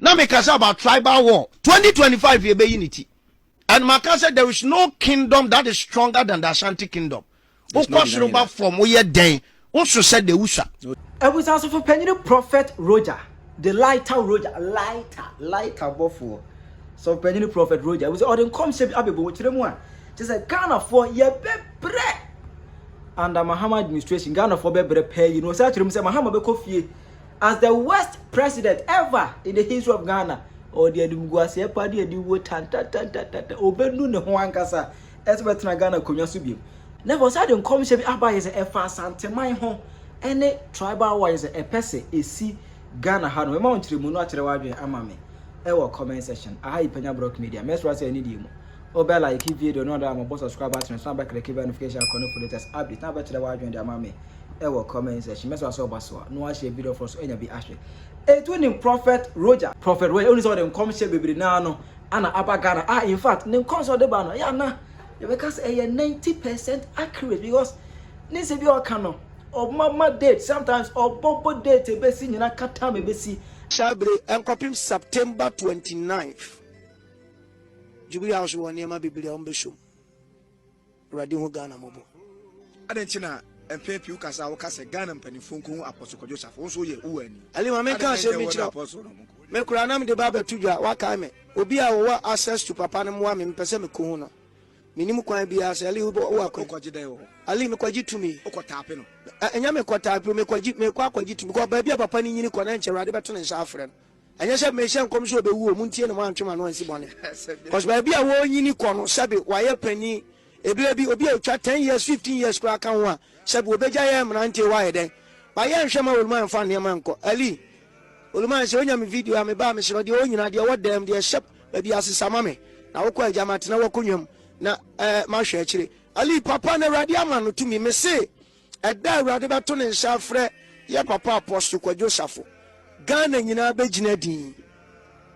na me kasa about tribal war 2025 yɛ bɛyi ne ti and ma ka sɛ there is no kingdom that is stronger than the Ashanti kingdom wokɔ soro ba fam woyɛ dɛn woso sɛ de wusua. Abusuasofo panyini Prophet Roger de lighter Roger lighter lighter bɔfoɔ sɛ panyini Prophet Roger ebusua ɔde nkɔmhyɛ bi abɛbɔ wɔ kyerɛ mu a kyerɛ sɛ Ghanafoɔ yɛbɛbrɛ under Mahama administration Ghanafoɔ bɛbrɛ paa yi na ɔsɛ akyerɛ mu sɛ Mahama bɛkɔ fie as the worst president ever in the history of Ghana. Ɔde animguaseɛ pa de adi wo tantatantata. Ɔbɛnu ne ho ankasa ɛsɛ bɛtena Ghana konwa so biom. Na ɛfɔ sɛ de nkɔmhyɛ bi aba yɛ sɛ ɛfa asanteman ho ɛne tribal war yɛ sɛ ɛpɛ sɛ ɛsi Ghana ha no. Mɛma wo nkyerɛmu no akyerɛ w'adwene ama me ɛwɔ comment section. Aha yi Panya Brock Media. Mɛsra sɛ ɛne deɛ mu. Wobɛ like video no na wabɔ subscribe button so na bɛ click bell notification icon no for latest update na bɛkyerɛ w'adwene de ama me ɛwɔ comment section mɛsɛ asɛ ɔba so a na wahyɛ video foro so anya bi ahwɛ ɛtu nim prophet roger prophet roger woni sɛ ɔde nkɔmhyɛ bebree naa no ana aba Ghana ah in fact ne nkɔmhyɛ ɔde ba no ɛyɛ ana yɛbɛka sɛ ɛyɛ 90% accurate because ne nsɛ bi a ɔka no ɔmama date sometimes ɔbɔbɔ date ɛbɛsi nyina ka time ɛbɛsi Shall be nkɔpem September 29th. Djibu yaw so wɔ nneɛma bebree a wɔbɛsɔ mu. Awurade hu Ghana mmɔbɔ. Adɛn nti na mpɛn pii wokasa a woka sɛ Ghana mpanyimfo nko hu Apostle Kwadwo Safo? Wo nso woyɛ wo wɔ ani. Ali ma menka asɛm bi nkyerɛ wo. Me koraa na mede ba abɛto dwa, woakae me. Obi a ɔwɔ access to papa no mmoa me, mepɛ sɛ mekɔhu no. Mennim kwan biara, sɛ Ali wobɔ wo akwan. Wokɔgye dɛn wɔ hɔ? Ali, mekɔgye tumi. Wokɔtaape no? Ɛnyɛ mekɔtaape o, mekɔgye, mekɔ akɔgye tumi. Because baabi a papa no nyini kɔ no, ɛnkyɛ Awurade bɛto ne nsa afrɛ no. Ɛnyɛ sɛ mehyɛ nkɔm sɛ ɔbɛwu o, montie no moantwe mo ano ansi bɔne. Cos baabi a wɔrenyini kɔ no sɛbe wayɛ panin, ɛberɛ bi obi a ɔtwa ten years, fifteen years koraa ka ho a, sɛbe wɔbɛgya yɛɛ mmeranteɛ wayɛ dɛn? But yɛnhwɛ ma Oluman mfa nneɛma nkɔ. Ali, Oluman sɛ ɔnya me video a meba a mesrɛ wo deɛ ɔwɔ nyinaa, deɛ ɛwɔ dan mu, deɛ ɛhyɛ baabi ase sa ma me na wokɔ agya matena w'akonnwa mu na eh, mahwɛ akyire. Ali, Papa na Awurade ama no tumi, mese. Ɛda a Awurade bɛto ne nsa afrɛ yɛ papa Apostle Kwadwo Safo. Ghana nyinaa bɛgyina din.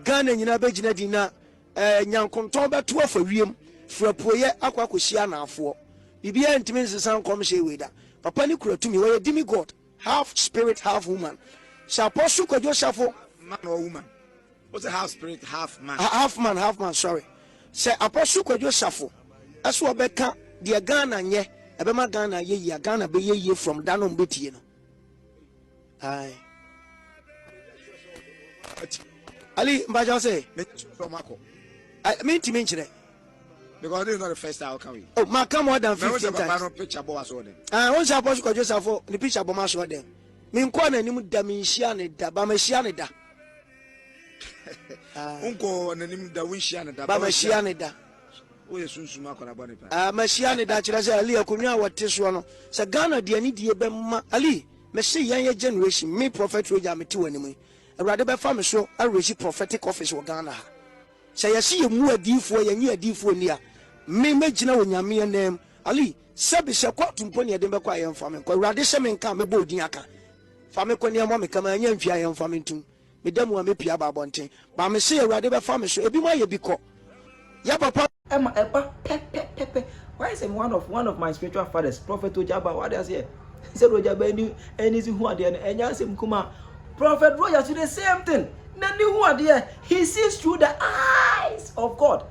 Ghana nyinaa bɛgyina din na eh, nyankontɔn bɛto afa wiem firi apueɛ akɔ akɔsi anaafoɔ. Biribiara ntumi nsesa nkɔmhyɛ wei da. Papa no kura tumi. Ɔyɛ demigod, half spirit, half woman. Sɛ Apostle Kwadwo Safo. Man or woman? Wo se half spirit half man. Half man half man sorry sɛ apostle kwadwo safo ɛso ɔbɛka deɛ Ghana nyɛ ɛbɛma Ghana yɛ yie a Ghana bɛyɛ yie from da no mbɛtie no ae Ali mpakyɛw se mentimi nkyerɛ because this is not the first time I come here. Oh, ma come more than fifteen times. Mɛ picture bɔ aso ɔdɛm. Ah, wọn sɛ apɔsi kɔjɔ safo ni picture bɔ ma aso ɔdɛm. Mi nkɔ na anim da mi nhyia ne da ba ma hyia ne da. wonkɔɔ n'anim da wonhyia ne da ba mahyia ne da woyɛ sunsum akɔda bɔne pa ah, mahyia ne da kyerɛ sɛ ali akonnwa a wɔte soɔ no sɛ ghana deɛ ne die bɛma ali mese yɛn yɛ generation me prophet roger mete w'anim yi awurade bɛfa me so awerɛsi prophetic office wɔ ghana ha sɛ yɛse yɛmu adiifoɔ yɛnye adiifoɔ ni a me mɛgyina wɔ nyameɛ nam ali sɛbi sɛ kɔɔto mpo ne ɛden bɛkɔ a yɛmfa me nkɔ awurade sɛ menka mɛbɔ odin aka Fa me kɔ neɛmoa me ka ma anya nhwi ayɛ mfa me ntom me da mu a me pie aba abɔnten ba me se awurade bɛ fa me so ebi mo ayɛ bi kɔ yɛ papa. Ɛma ɛba pɛpɛpɛpɛ wayɛ sɛ me one of one of my spiritual fathers prophet Ojaba wade aseɛ sɛde Ojaba ani ani si hu adeɛ no ɛnyɛ asɛm kuma prophet Roger so the same thing n'ani hu adeɛ he sees through the eyes of God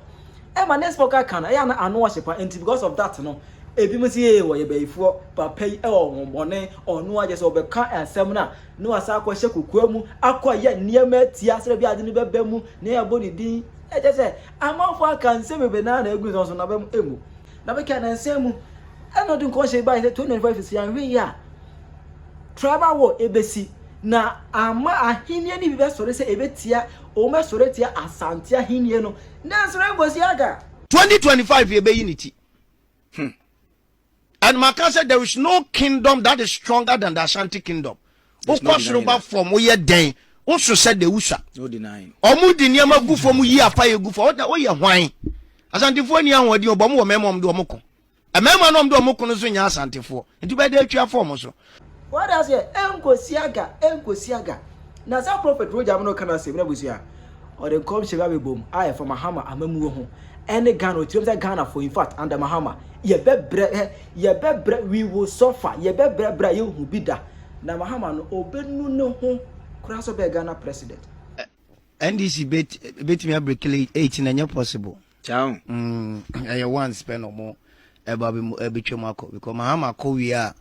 ɛma next time ɔka ka no ɛyɛ ana ano ɔhye pa nti because of that no Ebinom se ee wɔyɛ bayifoɔ, papa yi wɔ honhommɔne, ɔno ara kyɛsɛ ɔbɛka asɛm no a na wasan akɔhyɛ kokoa mu akɔyɛ nneɛma atia sɛdeɛ ɛbɛyɛ a ade no bɛba mu na yɛabɔ ne din. Kyerɛ sɛ amanfoɔ aka nsɛm bebree na na ɛgu nsɛm so na aba mu mmu. Na afei kanansa mu ɛna ɔde nkɔmhyɛ yi baeɛ sɛ 2025 sisi anhwɛ yi a tribal war ɛbɛsi na ama ahenniɛ no bi bɛsɔre sɛ ɛbɛtia wɔn bɛsɔre atia Asante ahenniɛ no nanso Rainbow Siaga. 2025 yɛbɛyi ne ti. Hmm. And maka sɛ there is no kingdom that is stronger than the Ashanti kingdom. Wokɔ soro ba fam woyɛ dɛn woso sɛ de wusa. Ɔmo di nneɛma gu fam yi apa yɛ gu fam woyɛ hwan. Asantefoɔ ni ahoɔden ɔbɔ ɔmo wɔ mɛɛma ɔmo de ɔmo ko. Mɛɛma no ɔmo de ɔmo ko no nso nyɛ asantefoɔ nti bɛyɛ de atwa fɔm so. Wate aseɛ ɛnkosi aga ɛnkosi aga na saa prophet Roger mo no ka no asɛm na abusua ɔde nkɔmhyɛ bi abɛbom a ɛfa Mahama amamuo ho ɛne Ghana ɔtiam sɛ Ghana for in fact under Mahama yɛbɛbrɛ ɛ yɛbɛbrɛ we will suffer yɛbɛbrɛ brɛ a yɛnhu bi da na Mahama no ɔbɛnu ne ho koraa sɛ ɔbɛyɛ Ghana president. NDC bɛtumi abreki late 8 na ɛnyɛ possible. Kyaaw. Mm, ɛyɛ once pɛ na ɔmo ɛba bi mu ɛbɛtwa mu akɔ because mahama kɔ wie a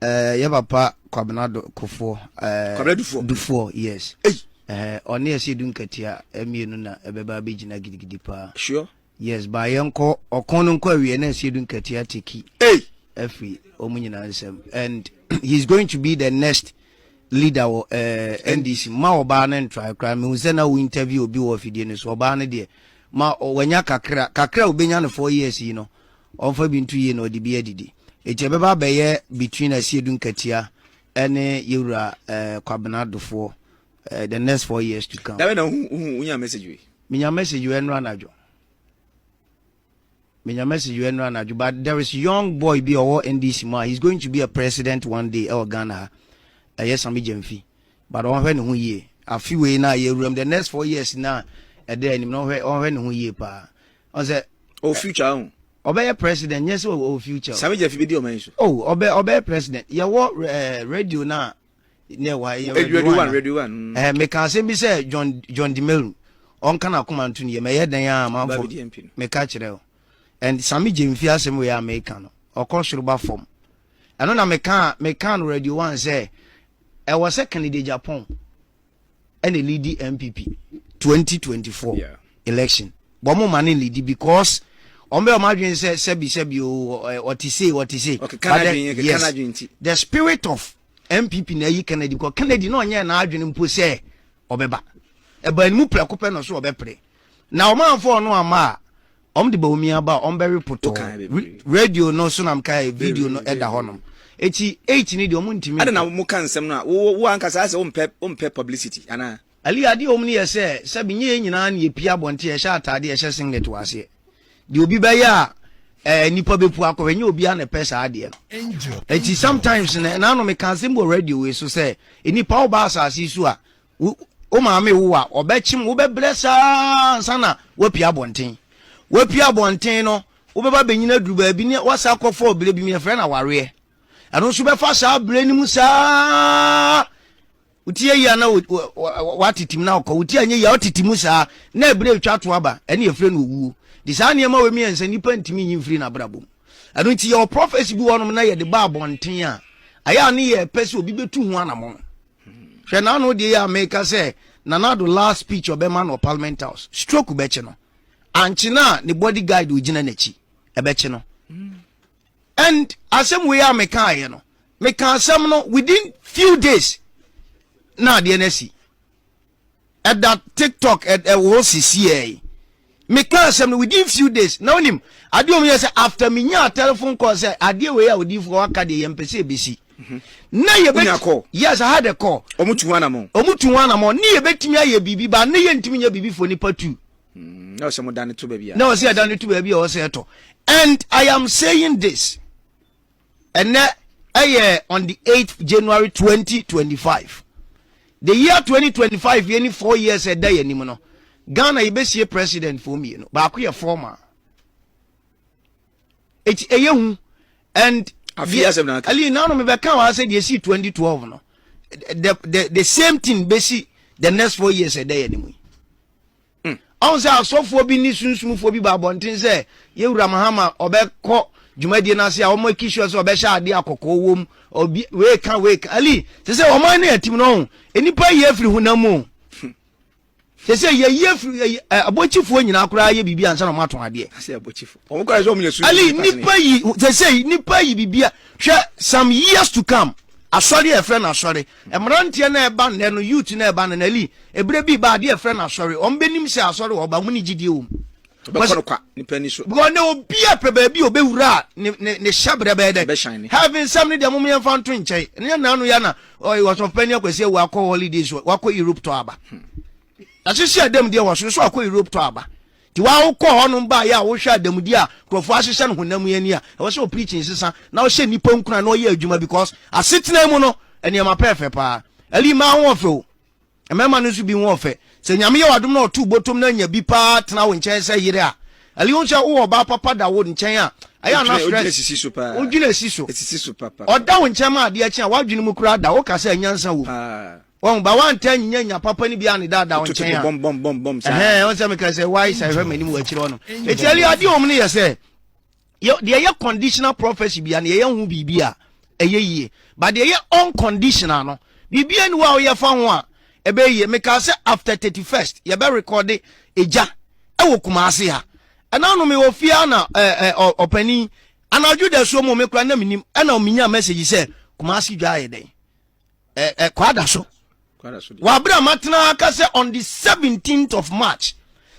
ɛɛ yɛ papa kwabena do kofoɔ ɛɛ kwabena dufoɔ dufoɔ yes ɛɛ ɔne ɛsɛ edu nkatia ɛmienu na ɛbɛba abɛgyina gidigidi paa sure yes ba yɛ nkɔ ɔkɔn no nkɔ awie na ɛsɛ edu nkatia teki ɛfiri ɔmo nyinaa nsɛm and he is going to be the next leader wɔ ɛɛ NDC ma ɔbaa no ntrae koraa mehu sɛ na wo interview obi wɔ afidie no so ɔbaa no deɛ ma wanya kakra kakra a obenya no four years yi no ɔmfa bi nto yie na ɔde bi adidi eti ɛbɛba abɛyɛ between asiedu nkatia ɛne yɛwura ɛɛ eh, kwabena dofoɔ ɛɛ eh, the next four years to come. dabe na hu hu wonya message wei. menya message wei ɛnora anadwo. Menya message wei ɛnora anadwo but there is young boy bi a ɔwɔ NDC mu a he is going to be a president one day ɛwɔ Ghana ha. Ɛyɛ Sami Gyamfi. But ɔnhwɛ ne ho yie. Afe wei na yɛ awuram the next four years na ɛda anim na ɔnhwɛ ɔnhwɛ ne ho yie paa. Ɔn sɛ Ɔwɔ future ahun. ɔbɛyɛ president nyɛ sɛ ɔwɔ future o. Sami Gyamfi bedi ɔman yi so. Oh, ɔbɛ ɔbɛyɛ president. Yɛwɔ eh, radio no a ne ɛwɔ ha yɛ radio one radio one mm. ɛɛ meka asɛm bi sɛ john john dimeru ɔnka na akoma nto ne yɛ mɛyɛ dɛn a manfo meka kyerɛ o and sami gye mfi asɛm wei a meka no ɔkɔ soro ba fam ɛno na meka meka no radio one sɛ ɛwɔ sɛ kennedy japan ɛna lidi npp 2024 election wɔn mo ma ne lidi because wɔn bɛ wɔn adwene sɛ sɛbi sɛbi o ɔte se ɔte se but the yes the spirit of NPP na ayi Kennedy kɔ. Kennedy na ɔnyɛɛ n'adwene mpo sɛ ɔbɛba. Ɛbaa ne mu prɛko pɛ na ɔso ɔbɛpere. Na wɔamfa ɔno amma a, wɔde Bawumia ba a, wɔbɛwe potɔɔ. Radio no so na mekaeɛ, video no da hɔnom. Enti, eight no deɛ wɔntumi nka. Adɛn na moka nsɛm no a wo ankasa ayɛ sɛ wompɛ publicity anaa? Aliyah, adeɛ a ɛwɔ mu no yɛ sɛ, sɛbe nyɛ yɛn nyinaa na yɛpie abɔnten, yɛhyɛ ataadeɛ, yɛhyɛ singlet wɔ aseɛ. Deɛ obi bɛyɛ a, ɛɛ, nnipa bɛpu akɔ hɔ. Ɛnyɛ obiara na ɛpɛ saa adeɛ no. Enti sometimes no, ɛna ano meka asɛm bi wɔ radio wei so sɛ, nnipa woba asase yi so a, wo, wo maame wo wo a, ɔbɛkyem, wobɛbrɛ saa ansa na woapie abɔnten. Woapie abɔnten no, wobɛba abɛnyini aduru baabi ne woasan akɔ fɔɔ berɛ bi mu, yɛfrɛ no awareɛ. Ɛno nso bɛfa saa berɛ no mu saa ara. Wotie eyi a na wɔatete mu na ɔkɔ, wotie anyɛ yi a ɔtete mu saa na ɛberɛ retwa to aba, ɛne yɛfrɛ no owuo. De saa nneɛma wei mmiɛnsa nnipa ntumi nyi mfiri n'abrabɔ mu. Ɛno nti yɛwɔ prophesy bi wɔ hɔnom na yɛde ba abɔnten a, ayɛ a ne yɛ pɛ sɛ obi bɛtu ho anamɔn. Hwɛ n'ano deɛ yɛ a meka sɛ Nana Addo last speech ɔbɛma no wɔ Parliament House, stroke bɛkye no. Ankye no a ne body guide ɔgyina n'akyi, ɛbɛkye no. and asɛm wei a mekaaeɛ no meka asɛm no within few days na adeɛ no asi ɛda tiktok ɛwɔ hɔ sisiɛ meka asɛm no within few days na wonim adeɛ ɔm yɛ sɛ after menyaa telephone call sɛ adeɛ wei a odifoɔ aka deɛ yɛmpɛ sɛ ɛbɛsi mhm. na yɛbɛti yes I had a call ɔmo tu ho anamɔ ɔmo tu ho anamɔ ne yɛbɛtumi ayɛ biribi ba ne yɛntumi nyɛ biribi fo nipa tu Mm, na ɔsɛ mo dane to baabi a. Na ɔsɛ ɛdane to baabi a ɔsɛ ɛtɔ. And I am saying this. Ɛnɛ ɛyɛ on the 8th January 2025. The year 2025 yɛ ni four years ɛda yɛ anim no. Ghana yɛbɛsie president foɔ mmienu. Baako yɛ former. Eti ɛyɛ hu. And afi asɛm na aka. Ali nanu mebɛka wɔn asɛ deɛ esi 2012 no. The the the same thing bɛsi the next four years ɛda yɛ anim yi. Hmm. ɔn sɛ asɔfoɔ bi ne sunsumfoɔ bi ba abɔnten sɛ yɛwura mahama ɔbɛkɔ dwumadie no ase a wɔn aki sure sɛ ɔbɛhyɛ adeɛ akɔkɔɔ wɔ mu obi wei ka wei ka ali sɛ sɛ wɔn ne atim no ɔn nnipa yie afiri honam mu sɛ sɛ yɛyi afiri ɛyi ɛ abɔkyifoɔ nyinaa koraa yɛ biribi ansa na wɔn atɔn adeɛ asɛ abɔkyifo wɔn kora sɛ wɔn yɛ su ali nipa yi sɛ sɛ nipa yi biribi a hwɛ some years to come asɔre a yɛfrɛ no asɔre Mmeranteɛ no ɛba nnɛ no, youth no ɛba no, na li, ɛberɛ bi reba, adeɛ yɛfrɛ no Asɔre, wɔn bɛnim sɛ Asɔre wɔ hɔ, but wɔn nni gyidie wɔ mu. Wobɛkɔ no kwa, nipa ani so. Because nnɛ obiara pɛ baabi a ɔbɛwura a ne, ne, ne hyɛberɛ bɛyɛ dɛn? Ɛbɛhyɛne. Heaven nsɛm no deɛ mom yɛmfa nto nkyɛn. Ɛnyɛ nna ano yi a na, ɔy, Ɔsɔfopanin Akwasi awu akɔ holidays, wakɔ Europe tɔ aba. Yɛahyehyɛ dam deɛ wɔ soro, so wakɔ Europe tɔ aba. Nti wo a wokɔ hɔnom baeɛ a wohwɛ adamudie a nkurɔfoɔ ahyehyɛ no honam yi ani a, ɛwɔ sɛ wo preaching nsesa na wohyɛ nnipa nkuran na wɔyɛ adwuma because asetena yi mu no nneɛma pɛɛfɛ paa. Ali mmaa ho ɔfɛ o, mmarima no nso bi ho ɔfɛ. Sɛ Nyame yɛ w'adom na ɔto botom na nya bi paa tena wo nkyɛn sɛ yere a, Ali hu sɛ wowɔ ɔbaa papa da wo nkyɛn a, ɛyɛ a na stress, wodwene sisi so paa, wodwene si so, ɛsisi so papa, ɔda wo nkyɛn ma adeɛ kye a w'adwene mu koraa da, woka sɛ nyansa wom. Paa. wɔn ba wanta anyinya nya papa no bi a ne daadaa wɔn nkyɛn a ɛhɛn wɔn sɛ meka sɛ why sɛ ɛhwɛ m'anim wɔ akyire hɔ no eti ɛli adeɛ wɔn no yɛ sɛ deɛ ɛyɛ conditional prophecy bi a na yɛyɛ ho biribi a ɛyɛ yie ba deɛ ɛyɛ unconditional no biribi ani hɔ a wɔyɛ fa ho a ɛbɛyɛ yie meka sɛ after thirty first yɛbɛ rekɔde egya ɛwɔ kumase ha ɛna no mewɔ fie a na ɛɛ ɔpanin anadwo da suo mu mekura na menim ɛna menya message sɛ kumase dwa ayɛ dɛn ɛ ɛ kwada so wabere a matena aka sɛ on the 17th of march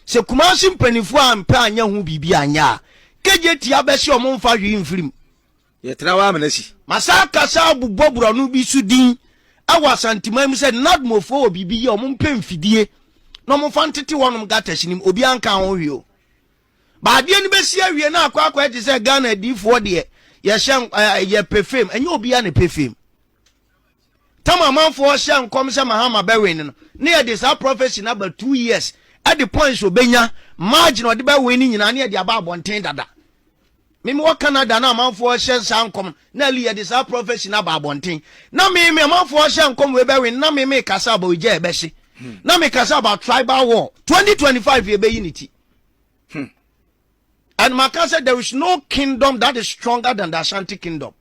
sɛ kumase mpanimfoɔ a mpɛ anyɛ ho biribi anyɛ a kegye tia bɛsi ɔmo mfa hwee mfirim yɛtena wa amena si masa akasa abubɔ borɔno bi so din ɛwɔ asanteman mu sɛ nadmofoɔ wɔ biribi yɛ ɔmo mpɛ mfidie na ɔmo fa ntete wɔnom gata sinim obi anka ho hwee o baadeɛ no bɛsi awie na akɔ akɔ ɛte sɛ ghana adiifoɔ deɛ yɛhyɛ yɛpɛ fam ɛnyɛ obiara na ɛpɛ fam tam amanfoɔ hyɛ nkɔm sɛ mahama bɛwen no ne yɛde saa prɔfɛsi no aba two years ɛde points obɛnya margin ɔde bɛwen no nyinaa ne yɛde aba abɔnten dada meme wɔ canada na amanfoɔ hyɛ saa nkɔm na ali yɛde saa prɔfɛsi no aba abɔnten na meme amanfoɔ hyɛ nkɔm wei bɛwen na meme kasa aba ogya ɛbɛhye na mekasa aba tribal war 2025 yɛbɛyi ne ti hmm. And maka sɛ there is no kingdom that is stronger than the Ashanti kingdom.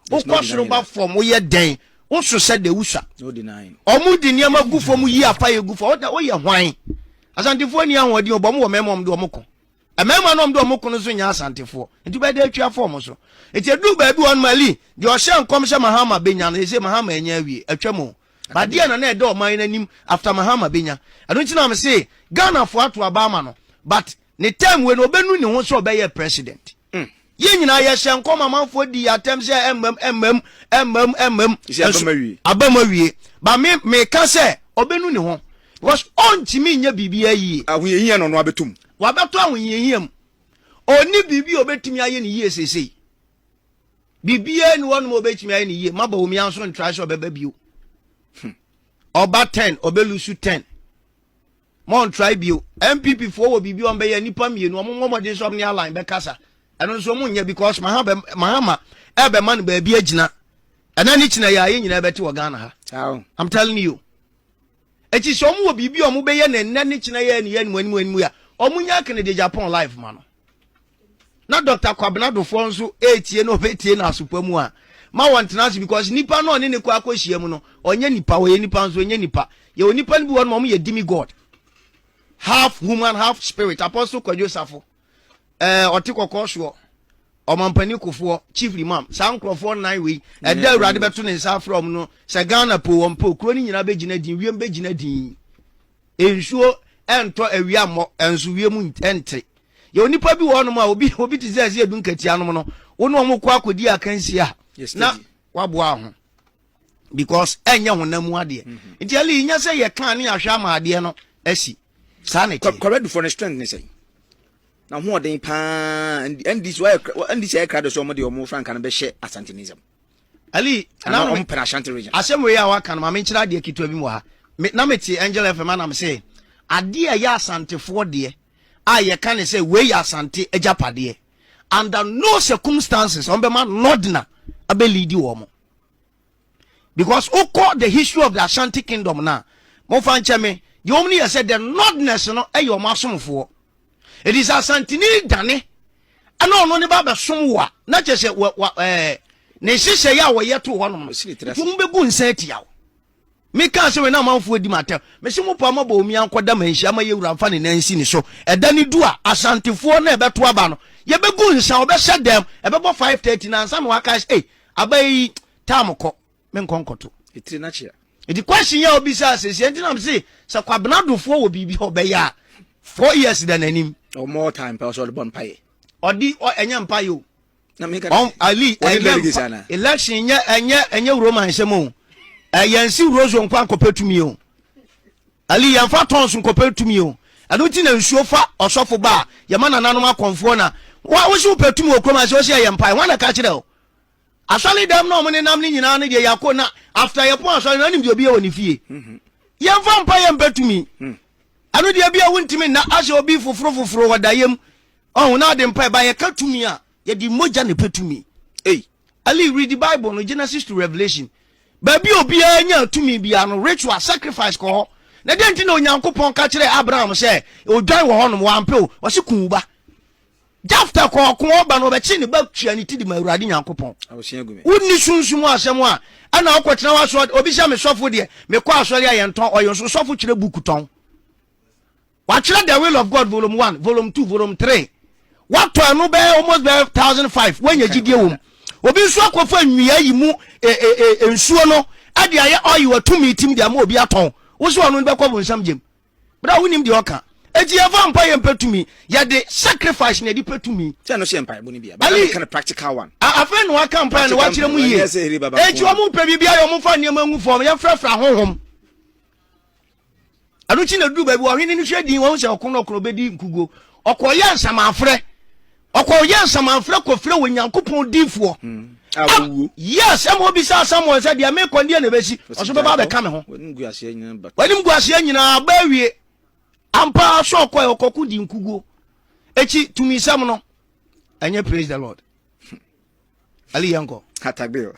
Wokɔ soro ba fam woyɛ dɛn? Woso sɛ de wusua. Ɔmo di nneɛma gu fam yi apa yɛ gu fam. Ɔda woyɛ hwan? Asantefoɔ ni ahoɔden ɔbɔ ɔmo wɔ mmarima ɔmo de ɔmo ko. Mmarima no ɔmo de ɔmo ko no so nyɛ asantefoɔ. Nti bɛda atwa fɔ ɔmo so. Nti edu baabi wɔn mali deɛ ɔhyɛ nkɔm sɛ Mahama benya no ɛsɛ Mahama anya awie atwa mu. Badeɛ na na ɛda ɔman no anim after Mahama benya. Ɛno nti na me se Ghana foɔ ato aba ama no but Ne term wei no ɔbɛnu ne ho sɛ ɔbɛyɛ president. Mm. Yɛn nyinaa yɛhyɛ nkɔm amanfoɔ di atɛm sɛ ɛmmam ɛmmam ɛmmam ɛmmam. Abam awie. Ba me meka sɛ ɔbɛnu ne ho because ɔntumi nyɛ biribiara yie. Ahohiahia na ɔno abɛtom. Wabɛtɔ ahohiahia mu. Ɔni biribi a ɔbɛtumi ayɛ ne yie seesei. Biribiara ni wɔnom a ɔbɛtumi ayɛ ne yie. Maba wɔn yɛn nso ntra sɛ ɔbɛba bio. Ɔba hmm. ten ɔbɛlusu ten. Monntrae bio. NPP foɔ wɔ biribi wɔn bɛyɛ nnipa mmienu wɔn mmɔ mmɔden sɛ wɔn ne Alan bɛkasa ɛno nso wɔn nyɛ because Mahama Mahama ɛbɛma no baabi agyina ɛna ne kyina yɛ a yɛn nyinaa bɛte wɔ Ghana ha. I'm telling you. Eti sɛ wɔn wɔ biribi wɔn bɛyɛ na ɛnɛ ne kyina yɛ ne yɛ anim anim anim a wɔn nyɛ akene de Japan life ma no. na Dɔkta Kwabena Dofoɔ nso retie na ɔbɛtie no asopa mu a, ma wɔntena ase because nipa no ɔne ne kɔ akɔhyia mu no, ɔnyɛ nipa, ɔyɛ nipa nso ɔnyɛ nipa. Yɛwɔ nipa no bi wɔ no ma wɔn yɛ demi god, half human, half spirit. Apostle Kwadwo Safo, ɛɛ eh, ɔte kɔkɔɔ soɔ, ɔmampanin kofoɔ, chief imam, saa nkurɔfoɔ nnan wei, ɛda awurade bɛto ne nsa afrɛ wɔn no, sɛ Ghana po wɔn po, kuro no nyinaa bɛgyina din, wiem bɛgyina din. nsuo ntɔ awia mmɔ nso wiem nte yɛwɔ nnipa bi wɔ hɔnom a obi obi te sɛ ɛsɛ edu nkatia nom no wo ne wɔn kɔ akɔdi akansi a na waboa ho because ɛnyɛ honam mu adeɛ mm-hmm. nti ɛle yi nyɛ sɛ yɛ kan ne ahwɛ ama adeɛ no asi saa na ɛteɛ kɔrɛdufo no strength ne sɛ na hoɔden paa ndc ayɛ ndc ayɛ krado sɛ wɔn de wɔn frankaa no bɛhyɛ asantenism ali na ɔmo pɛrɛ ashanti region asɛm wei a waka no maame nkyerɛ adeɛ ketewa bi mu ha me na me te angel fm anam se adeɛ a ɛyɛ asantefoɔ deɛ a yɛka ne sɛ wei yɛ asante agyapadeɛ under no circumstances ɔmo bɛma nɔdena abɛ leadi wɔn mo because wokɔ the history of the ashanti kingdom na mo fa nkyɛn me deɛ wɔn no yɛ sɛ the nɔdeness no ɛyɛ wɔn asomfoɔ ɛti sɛ asantini dane ɛna ɔno ne ba bɛsom wo a na kyɛ sɛ wa, wa, eh, ne nhyehyɛ yɛ a wɔyɛ to hɔnom no nti mo bɛgu nsa atia wo mekaa sɛ wei na amanfoɔ adi matam mese mo paa mabɔ omi ankɔda manhyia ma yɛwura mfa ne nansi ne so ɛda ne du a asantefoɔ na ɛbɛto aba no yɛbɛgu nsa ɔbɛhyɛ dɛm ɛbɛbɔ 530 na ansa na waka sɛ ei aba yi tam kɔ me nkɔ nkɔto. Etire na kyea. Eti question yɛ obi sa sɛ sɛ ntina se sɛ kwabena dofoɔ wɔ biribi hɔ bɛyɛ a four years da n'anim. Or more time pɛ ɔsɛ ɔde bɔ mpaeɛ. Ɔde ɛnyɛ mpaeɛ o. Na mi ka dɛ. Ali ɛnyɛ election ɛnyɛ ɛnyɛ ɛnyɛ Roman nsɛm o. Ɛyɛ nsi rozo nkwa nkɔpɛ tumi o. Ali yɛn fa tons nkɔpɛ tumi o. Ɛno ti na nsuo fa ɔsɔfo ba a yɛma nananom akɔnfoɔ na wɔn ahosuo pɛ tumi wɔ kurom ase ɔsɛ ɛyɛ mpaeɛ wɔn na ka kyerɛ o. Asɔre dɛm na ɔmo nenam no nyinaa no deɛ yako na after yɛpon asɔre no ɔnim deɛ obi yɛ wɔ ne fie yɛn fa mpa yɛn mpɛ tumi ɛno deɛ bi a wontumi nna ahyɛ obi foforo foforo wɔ da yɛm ɔho na ade mpa ɛba yɛka tumi a yɛde mogya ne pɛ tumi ei ali read the bible no genesis to revelation baabi obiara nya tumi biara no ritual sacrifice kɔ hɔ na dɛn nti na onyankopɔn ka kyerɛ abraham sɛ odwan wɔ hɔnom wampɛ o ɔse kun wo ba Jefta kɔɔ ɔko ɔba no ɔbɛkyee ne ba tua ne ti de ma Awurade Nyankopɔn. Wonni sunsum mu asɛm a ɛna wokɔtena w'asɔre obi sɛ me sɔfo deɛ mekɔ asɔre a yɛntɔn ɔyɛ nso sɔfo kyerɛ buku tɔn. Watwerɛ The Will of God volume one, volume two, volume three. Watɔ ɛno bɛyɛ almost bɛyɛ thousand five woanya gyidie wɔ mu. Obi nso akɔfa nnua yi mu e, e, e, nsuo no ɛde ayɛ ɔyi watumi tim de ama obi atɔn. Wo sɛ ɔno no bɛkɔ bonsam gyem. bere a wonim deɛ ɔka. Eti yɛmfa mpaeɛ mpɛ tumi. Yɛde sacrifice na yɛde pɛ tumi. Sɛ ɛno so yɛ mpaebɔ no bi a. But Ayi, meka no practical one. a- afei na waka mpaeɛ na Practical wakyerɛ mpaebɔ. mu yie. Ɛnyɛ sɛ hiri baba Enti nko a. wɔn mpɛ biribiara yɛ wɔn fa nneɛma ngu fam. Yɛmfrafra honhom. Ɛno nti na duru baabi wɔ ɔhene no hwɛ din wɔn sɛ ɔko no ɔko no ɔbɛdi nkuguo. Ɔkɔyɛ nsamanfrɛ Ɔkɔ yɛ nsamanfrɛ kɔfrɛ wɔ Nyankopɔn difoɔ a wawuo. Yes ɛma ɔbisaa Samuel sɛ deɛ meekɔ ndeɛ na ɛbɛsi? Ɔse ɔbɛba abɛka me ho. W'animguaseɛ nyinaa aba awie. Ampa ara sɛ ɔkɔɛ ɔkɔko di nkuguo. Eti tumisɛm no ɛnyɛ praise the Lord. Ali yɛnkɔ. Atagbeo.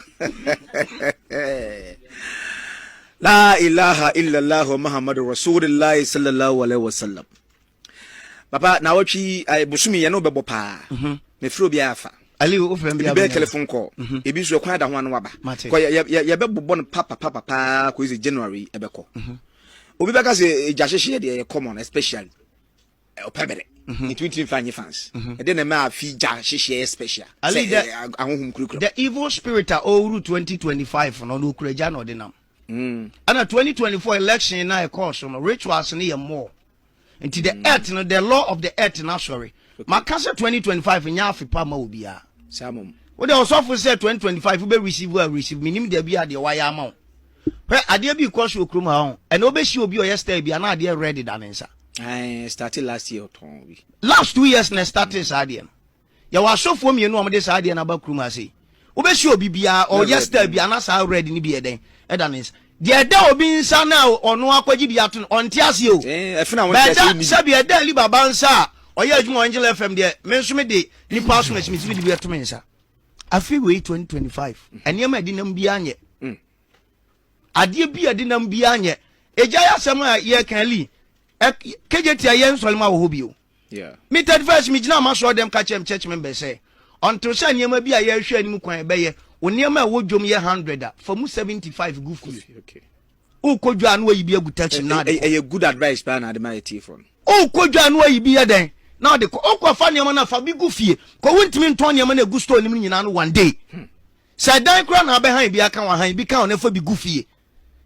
La ilaha illallah Muhammadu Rasulillah sallallahu alaihi wasallam. Papa, naawɔtwe yi, eh, bosomi yɛne wobɛbɔ paa. Mhm. Mefrɛ obiara afa. Ali, wofrɛ m bi Ebi bɛyɛ telephone call, mhm. ebi nso ɛkwan ada ho ano waba. Mate. Kɔ, yɛ- yɛ- yɛbɛbobɔ no papapapa paa kɔi sɛ January yi ɛbɛkɔ. Mhm. Obi bɛka sɛ eh, gya hyehyeɛ deɛ ɛyɛ common especially eh, ɔpɛ bere. Mhm. Nti wontumi mfa nye fans. Mhm. Ɛdeɛ na ɛma afi gya hyehyeɛ yɛ special. Ali, Sɛ, dɛ- eh, ah- ahohom kurakura. The evil spirit a ɔwuru 2025 no, ɔno okura gya na ɔde nam. Mm. Ɛna 2024 election na ɛkɔɔ so no, rituals no yɛ more. nti the mm. earth no the law of the earth no asɔre maka sɛ 2025 nyɛ afe pa ma obiara wode ɔsɔfo sɛ 2025 wobɛ receive a receive menim da bi a deɛ wayɛ ama wo hwɛ adeɛ bi kɔ so wɔ kurom ha ho ɛna wobɛsi obi ɔyɛ style bi anaa adeɛ red da ne nsa started last year ɔtɔn bi last two years na started saa adeɛ no yɛwɔ asɔfoɔ mmienu a wɔde saa adeɛ no aba kurom ha sei wobɛhyɛ obi biara ɔyɛ star bi ana saa red no bi yɛ dɛn ɛda ne nsa deɛ ɛda obi nsa no a ɔno akɔgye bi ato no ɔnte ase o eh, bɛɛta sɛbi ɛda ali baba nsa a ɔyɛ adwuma angela fm deɛ me nso me de nipa aso na ɛsimisi me de bi ato me nsa afei wei 2025 nneɛma ɛde nam biara nyɛ mm. adeɛ bi ɛde nam biara nyɛ ɛgya yɛ asɛm a yɛka li kɛgye tia yɛ nsɔlema wɔ hɔ bio Me third verse, Migyinaa m'asɔrdan mu ka kyerɛɛ me church members sɛ, Until sɛ nneɛma bi a yɛrehwɛ anim kwan a ɛbɛyɛ, wo nneɛma a ɛwɔ dwom yɛ hundred a, fa mu seventy five gu fie. Wokɔ dwa a na wayi bi agu taxi mu na ade kɔ. Ɛyɛ good advice paa na ade ma atiefoɔ no. Wokɔ dwa a na wayi bi yɛ dɛn? Na ɔde kɔ. Wokɔfa nneɛma no a, fa bi gu fie. Kɔ wontumi ntɔn nneɛma no a ɛgu store no mu no nyinaa no one day. Sɛ ɛdan koraa na abɛhan bi aka wo a, han bi ka ho na fa bi gu fie.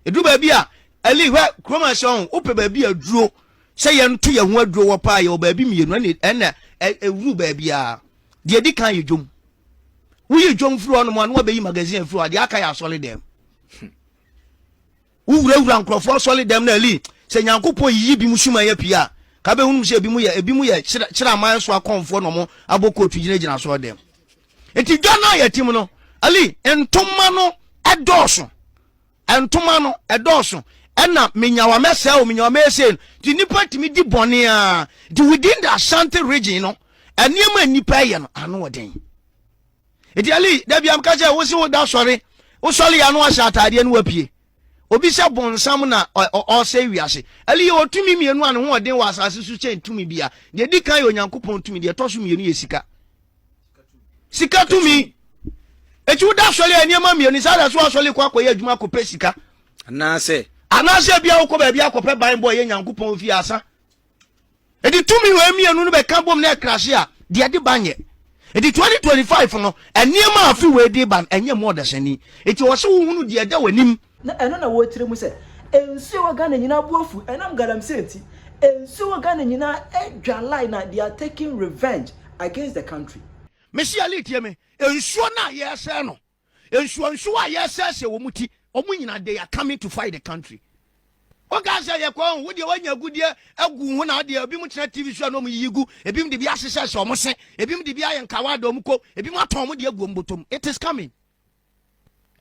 Ɛduru baabi a, Eli, hwɛ, kurom ase ɔho, wopɛ baabi a duro, sɛ yɛnto yɛn ho aduro wɔ paa, yɛwɔ baabi mmienu, ɛna ɛna ɛwuru baabi a, deɛ ɛdi kan yɛ dwom. Woyi dwom firi hɔ nom a, na wabɛyi magazine afiri hɔ, deɛ aka yɛ asɔre dɛm. Wowurawura nkurɔfoɔ asɔre dɛm na Eli, sɛ Nyankopɔn yiyi bi mu suma yɛ pii a, ka bɛhunum sɛ ebi mu yɛ ebi mu yɛ kyerɛ aman so akɔmfoɔ na wɔn abɔ kootu gyinagyina asɔre dɛm. nti dwa no a yɛte mu no ali ntoma no ɛdɔɔso ntoma no ɛdɔɔso ɛna menyawa mɛsɛe o menyawa mɛsɛe no nti nipa tumi di bɔne a nti within the ashanti region no nneɛma nipa ɛyɛ no ano ɔden nti ali dabi amka sɛ wosi wo da sɔre wosɔre yɛ ano ahyɛ ataadeɛ no wapue obi sɛ bɔnsam na ɔsɛ wiase ali yɛ ɔtumi mmienu a ne ho ɔden wɔ asase so kyɛn tumi bia deɛ di kan yɛ onyankopɔn tumi deɛ ɛtɔ so mmienu yɛ sika sika tumi eti woda asɔre a nneɛma mmienu saa na so asɔre kɔ akɔyɛ adwuma akɔpɛ sika anaasɛ anaasɛ bia wokɔ baabi akɔpɛ ban bɔ ɛyɛ nyankopɔn ofie asa ɛde tumi wɔ mmienu no bɛka bom na ɛkrase a deɛ de ba nyɛ ɛde 2025 no nneɛma afe wɔ ɛde ba ɛnyɛ mu ɔdasani ɛti wɔ sɛ wohunu deɛ ɛda w'anim Na ɛno na wɔkyerɛ mu sɛ, Nsuo a ɛwɔ Ghana nyinaa bo afu ɛnam galamsey nti. Nsuo a ɛwɔ Ghana nyinaa adwalae na they are taking revenge against the country. Mesi Ali tie me, nsuo no a yɛresɛe no, nsuonsuo a yɛresɛesɛe wɔn ti, wɔn nyinaa they are coming to fight the country. Wokaa sɛ yɛkɔ ho, wodeɛ woanya agudeɛ agu wo ho na adeɛ, ebinom tena TV so a na wɔn yiyi gu, ebinom de bi ahyehyɛ sɛ wɔn se, ebinom de bi ayɛ nkawa a da wɔn kɔn, ebinom atɔn wɔn deɛ agu wɔn bɔtɔ mu. It is coming.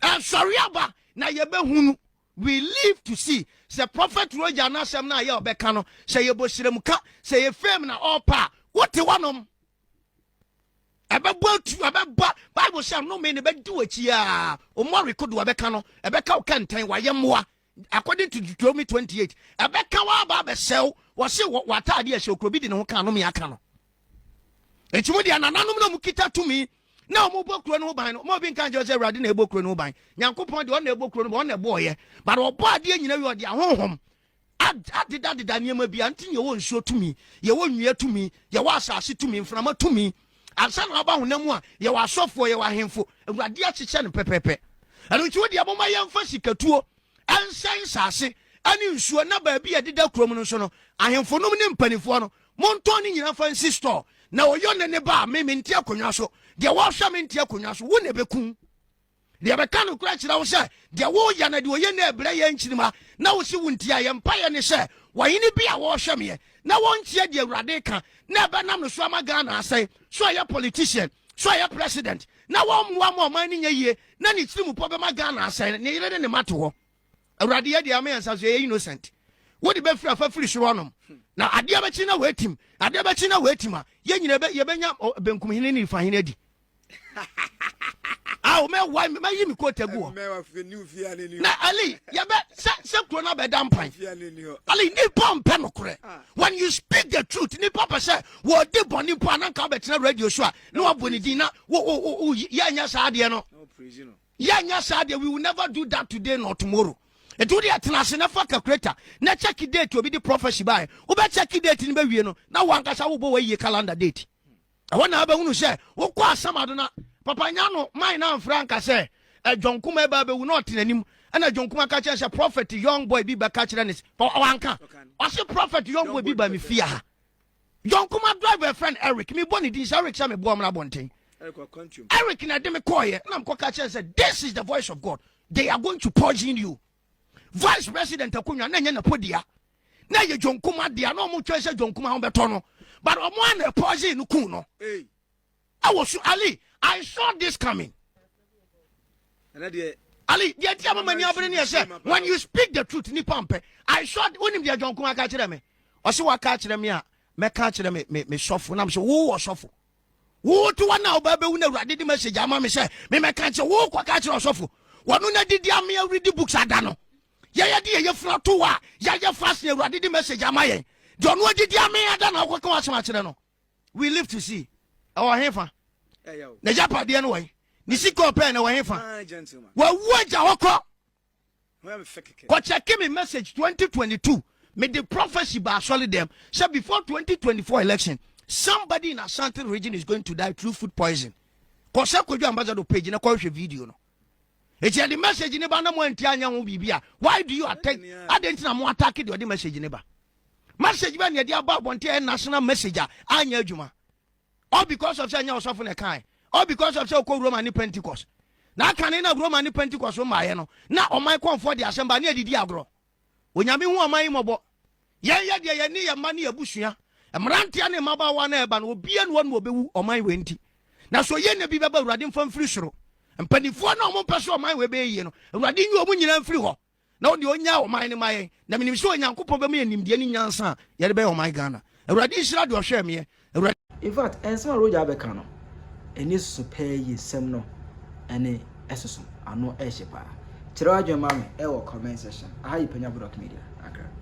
ɛnsɔre aba na yɛbɛhu no we live to see sɛ prɔfɛt roger n'asɛm no a yɛ ɔbɛka no sɛ yɛbɔ srem ka sɛ yɛ fame na ɔɔpɛ a wote hɔnom ɛbɛbɔ atu ɛbɛba bible sɛ nnome no bɛdi w'akyi a ɔmmɔ rekodo ɛbɛka no ɛbɛka wo kɛntɛn wayɛ mmoa according to Deuteronomy 28 ɛbɛka wa aba abɛsɛ wo wɔse w'ataade ɛhyɛ okuro bi de ne ho ka anome aka no nti mu deɛ nananom na mu kita tumi na wɔn bɔ kuro no ho ban no wɔn bi nka nkyɛn sɛ awurade na ɛbɔ kuro no ho ban nyankopɔn deɛ ɔna ɛbɔ kuro no ban ɔna ɛbɔ ɔyɛ but ɔbɔ adeɛ nyina wie ɔde ahohom adedadeda nneɛma bi a nti yɛwɔ nsuo tumi yɛwɔ nnua tumi yɛwɔ asase tumi mframa tumi ansa na aba honam mu a yɛwɔ asɔfoɔ yɛwɔ ahemfo awurade akyekyɛ no pɛpɛpɛ ɛno nti wo deɛ moma yɛmfa sikatuo ɛnsɛn nsase ɛne nsuo na baabi a ɛdeda kurom no nso no ahemfo nom ne mpanimfoɔ no montɔn ne nyina fa nsi store na ɔyɔ ne ne ba a me mente akonnwa so deɛ wɔhwɛ mente akonnwa so wo na ɛbɛkum Deɛ bɛka nokorɛ kyerɛ wo sɛ deɛ woyɛ na deɛ ɔyɛ no ɛbrɛ yɛ nkyirima na wo se wo ntia yɛ mpaeɛ ne sɛ wɔhene bi a wɔhwɛ meɛ na wɔntie deɛ awurade ka na ɛbɛnam no so ama Ghana asɛe so ɛyɛ politician so ɛyɛ president na wɔmmoa ma ɔman no nyɛ yie na ne tiri mu pɔ bɛma Ghana asɛe ne yere ne ne ma to hɔ awurade yɛ deɛ ama yɛn nsa so yɛ innocent wode bɛfiri afa firi soro anom na adeɛ bɛkyi na wɔatim adeɛ bɛkyi na wɔatim a yɛnyina yɛbɛnya benkum hene ne nifa hene adi awo mɛ wa mɛ yi mi ko tɛ gu hɔ na ali yɛ bɛ sɛ sɛ kuro na bɛ da mpan ali nipa mpɛ no korɛ ah. when you speak the truth nipa pɛ sɛ wɔ di bɔ nipa ananka bɛ tena radio so a na wa bɔ ne din na wo wo wo yɛ nyɛ saa adeɛ no yɛ nyɛ saa adeɛ we will never do that today nor tomorrow ɛti wode ɛtena ase na fa calculator na check date obi de prophecy baɛ wobɛ check date no bɛwie no na wankasa wobɔ wayie calendar date ɛhɔ na abɛhunu sɛ wokɔ asamado na papa nya no man na amfra nka sɛ adwankuma ɛba abɛwu na ɔte n'anim ɛna adwankuma ka kyerɛ sɛ prophet young boy bi bɛka kyerɛ ne wanka ɔse prophet young boy bi ba me fie ha adwankuma driver friend eric mebɔ ne din sɛ eric sɛ meboa mra abɔnten eric na ɛde me kɔɔyɛ na mekɔka kyerɛ sɛ this is the voice of god they are going to poison you vice president akonnwa na ɛnyɛ n'apɔdua na ɛyɛ john kuma dea na wɔn twɛn sɛ john kuma bɛtɔ no but wɔn a na ɛpɔɔse no kun no ɛwɔ so ali i saw this coming ali deɛ ti a mama ni abere ni ɛsɛ when you speak the truth nipa mpɛ i saw wonim deɛ john kuma ka kyerɛ me ɔsi wa ka kyerɛ me a mɛ ka kyerɛ me me me sɔfo na me sɛ wo wɔ sɔfo Wo wo toa na ɔbaa bɛwu na awurade de message ama me sɛ memɛka nkyɛ wo kɔ ka kyerɛ ɔsɔfo wɔno na didi ame awuridi books ada no yɛyɛ de yɛyɛ fira to a yɛayɛ fast na awurade de message ama yɛn de ɔno adidi ame ada na ɔkɔka wasɛm akyerɛ no we live to see ɛwɔ he fa na gyapadeɛ no wɔn ne sikɔ pɛɛ na ɛwɔ he fa wawu agya hɔ kɔ Kɔ check me message 2022 me de prophecy ba asɔre dɛm sɛ before 2024 election somebody in Asante region is going to die through food poison. Kɔ sɛ kɔdwa ambassador page na kɔhwɛ video no. Eti ɛde message ne ba na mo anti anya ho biribi a why do you attack adɛn nti na mo attack de ɔde message ne ba. Message bɛ na ɛde aba abɔnten a ɛyɛ national message a anya adwuma. all because of sɛ ɛnyɛ ɔsɔfo na ɛkae all because of sɛ ɔkɔ roma ne pentecost na aka ne na roma ne pentecost mmaeɛ no na ɔman kɔnfoɔ de asɛm ba ne adidi agorɔ onyame hu ɔman yi mmɔbɔ yɛn yɛ deɛ yɛne yɛn mma ne abusua mmeranteɛ ne mmabaawa na ɛba no obia ne ɔne ɔbɛwu ɔman wei nti na so yɛ na bi bɛba awurade mfa mfiri soro mpanimfoɔ na ɔmo mpɛ so ɔman wei bɛyɛ yie no awurade nyi ɔmo nyinaa mfiri hɔ na ɔde ɔnyaa ɔman no ma yɛn na menim sɛ onyankopɔn bɛma yɛ nimdeɛ ne nyansa a yɛde bɛyɛ ɔman ghana awurade nhyira deɛ ɔhwɛɛ meɛ awurade Infact nsɛm a Roger abɛka no ani soso paa yie nsɛm no ɛne ɛsoso ano ɛhye paa kyerɛ w'adwene ma me ɛwɔ comment section aha yi Panya Bodoc Media Accra.